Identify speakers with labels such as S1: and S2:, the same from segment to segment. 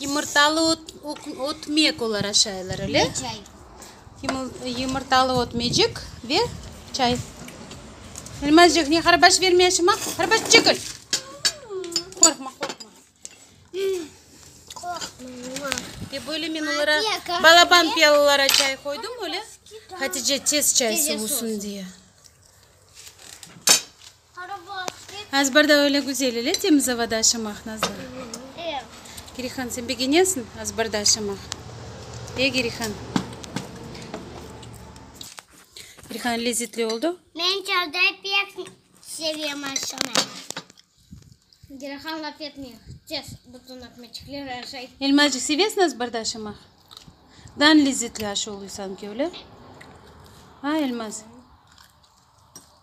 S1: Yımırtalı
S2: ötmek olara şayılır, öyle?
S1: Ve çay. Yımırtalı
S2: ötmecik ve çay. Elmazcıq, ne qarbaş vermeyşim, a? Qarbaş, çekil! Qorqma, qorqma. Qorqma. Ve böyle men olara balaban piyalılara çay qoydım, öyle? Hatice tez çay soğusın diye. Azbarda öyle güzel ile, temiz avada aşamaq, Nazlı.
S1: Gerihan, sen
S2: begenesiñ azbarda aşamaq? E, Gerihan? Gerihan, lezetli oldu? Men çölde pek sevem aşamaq.
S1: Gerihan laf etmey, tez bütün ekmeçikleri aşay. Elmacıq, sevesiñ
S2: azbarda aşamaq? Dan lezetli aşa oluy sanki, öyle? A, Elmaz?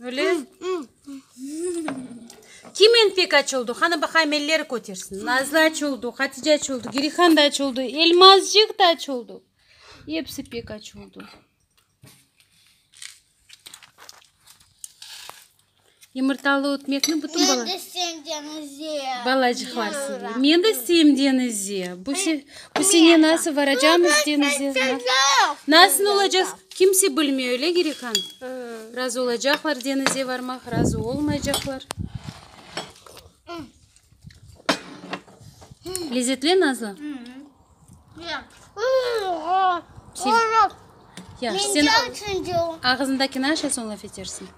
S2: Öyle? Kimin pek açıldı? Hanı baqayım elleri kötersin. Nazlı açıldı, Hatice açıldı, Girihan da açıldı, Elmazcıq da açıldı. Hepsi pek açıldı. Yumurtalı ötmekni bütün bala...
S1: Balacıqlar
S2: seviyor. Men de sevim denizi. Bu se... Bu sene nasıl varacamız denize? Nasıl olacağız? Kimse bilmiyor, öyle Girikan? Razı olacaqlar denize varmaq, razı olmayacaqlar. Lezzetli Nazlı? Yaxşı, sen ağzındakini aşa, soñ laf etersin.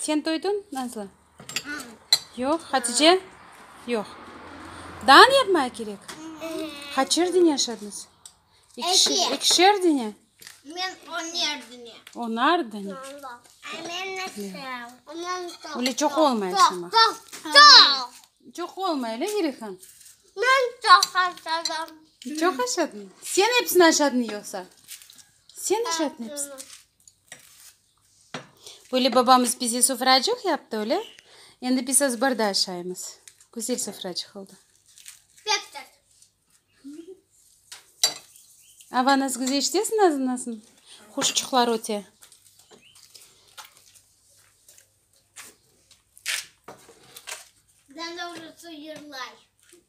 S1: Sen
S2: toyduñ, Nazlı? Yoq. Hatice? Yoq. Dağın yapmaya kerek? Qaçer dene yaşadıñız? Ekişer dene? Men
S1: oner dene.
S2: Onar
S1: dene. Öyle çoq olmay
S2: yaşamaq.
S1: Çoq olmay,
S2: öyle Gerihan? Men
S1: çoq yaşadım. Çoq yaşadıñ?
S2: Sen epsini yaşadıñ yoqsa? Sen yaşadıñ epsini? Böyle babamız bize sofracıq yaptı, öyle? Endi biz azbarda aşaymız. Güzel sofracıq oldı. Pek tat. Ava, nasıl güzel işitesın ağzındansın? Quşçuqlar öte.
S1: Dandavrısı yırlay.